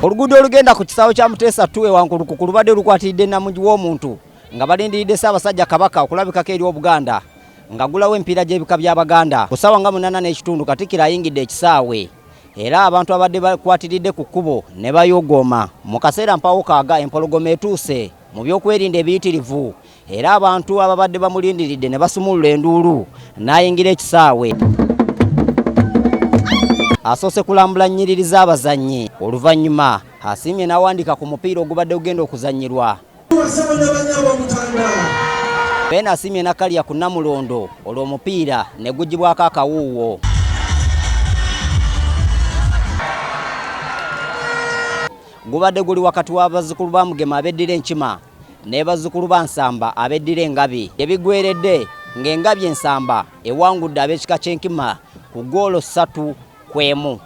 oluguudo olugenda ku kisaawe kya muteesa tu ewankulukuku lubadde lukwatiridde namugi w'omuntu nga balindiridde ssaabasajja kabaka okulabikako eri obuganda nga gulawo empiira gy'ebika by'abaganda ku ssaawa nga munana n'ekitundu katikkiro ayingidde ekisaawe era abantu abadde bakwatiridde ku kkubo ne bayogooma mu kaseera mpawo kaaga empologoma etuuse mu byokwerinda ebiyitirivu era abantu ababadde bamulindiridde ne basumulula enduulu n'ayingira ekisaawe asoose kulambula nnyiriri z'abazannyi oluvannyuma asiimye n'awandiika ku mupiira ogubadde gugenda okuzannyirwa beena asiimye nakalya ku namulondo olwo omupiira ne gugibwako akawuuwo gubadde guli wakati w'abazzukulu ba mugema abeddira enkima ne bazzukulu ba Nsamba abeddira Engabi. Gye bigweredde ng'Engabi e Nsamba ewangudde ab'ekika ky'Enkima ku ggoolo ssatu ku emu.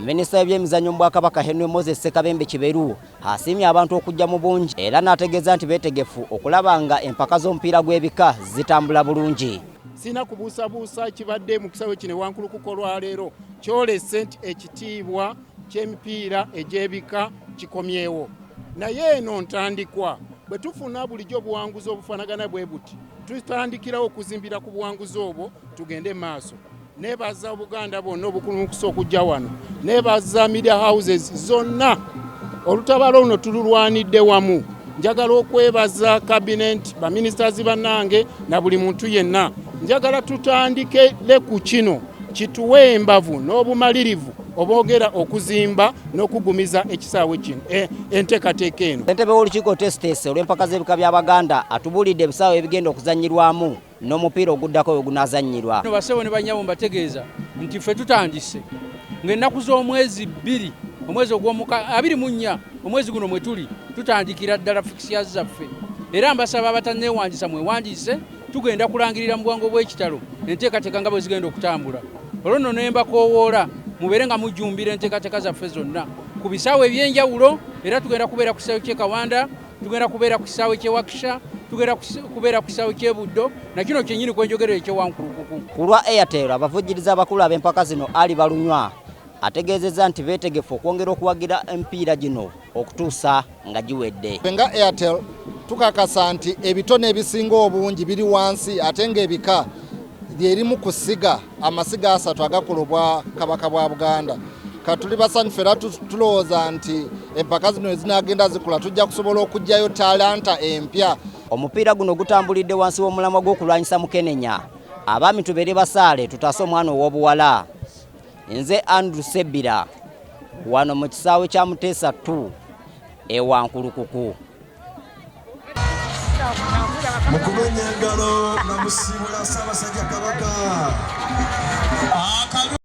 Minisita w'ebyemizannyo mu Bwakabaka Henry Moses Ssekabembe Kiberu asiimye abantu okujja mu bungi era n'ategeeza nti beetegefu okulaba nga empaka z'omupiira gw'ebika zitambula bulungi. sirina kubuusabuusa kibadde mu kisawe kino ewankulukuka olwaleero kyolese nti ekitiibwa ky'emipiira egy'ebika kikomyewo naye eno ntandikwa bwe tufuna bulijjo obuwanguzi obufaanagana bwe buti tutandikirawo okuzimbira ku buwanguzi obwo tugende maaso Nebaza Obuganda bwonna obukulumukusa okujja wano, nebaza media houses zonna. Olutabalo luno tululwanidde wamu. Njagala okwebaza kabineeti, baministazi bannange na buli muntu yenna. Njagala tutandike le ku kino kituwe embavu n'obumalirivu obogera okuzimba n'okugumiza ekisaawe kino eh, enteekateeka eno. Entebe w'olukiiko Tesitesi olw'empaka z'ebika by'Abaganda atubuulidde ebisaawe ebigenda okuzannyirwamu n'omupiira oguddako we gunaazannyirwa. No bassebo ne bannyabo mbategeeza nti ffe tutandise ng'ennaku z'omwezi bbiri omwezi ogw'omuka abiri mu nnya omwezi guno mwe tuli tutandikira ddala fikisiyazi zaffe era mbasaba abatanneewandiisa mwewandiise tugenda kulangirira mu bwangu obw'ekitalo enteekateeka nga bwe zigenda okutambula olwo nno ne mbakoowoola mubeere nga mujjumbira enteekateeka zaffe zonna ku bisaawe eby'enjawulo era tugenda kubeera ku kisaawe ky'e kawanda tugenda kubeera ku kisaawe ky'e Wakisha tugenda kubeera ku kisaawe ky'e Buddo na kino kyennyini kwe njogerera eky'e Wankulukuku. Ku lwa Airtel abavujjiriza abakulu ab'empaka zino Ali Balunywa ategeezezza nti beetegefu okwongera okuwagira emipiira gino okutuusa nga giwedde. Nga Airtel tukakasa nti ebitone ebisinga obungi biri wansi ate ng'ebika lyerimu ku ssiga. amasiga asatu agakola obwa kabaka bwa buganda katuli basanyufu era tulowooza nti empaka zino ezinagenda zikula tujja kusobola okugyayo talanta empya omupiira guno gutambulidde wansi w'omulamwa gw'okulwanyisa mukenenya abaami tubeere basaale tutaase omwana ow'obuwala nze andrew sebira wano mu kisaawe kya muteesa 2 ewankulukuku mukumenya engalo nga musiibula Ssaabasajja Kabaka.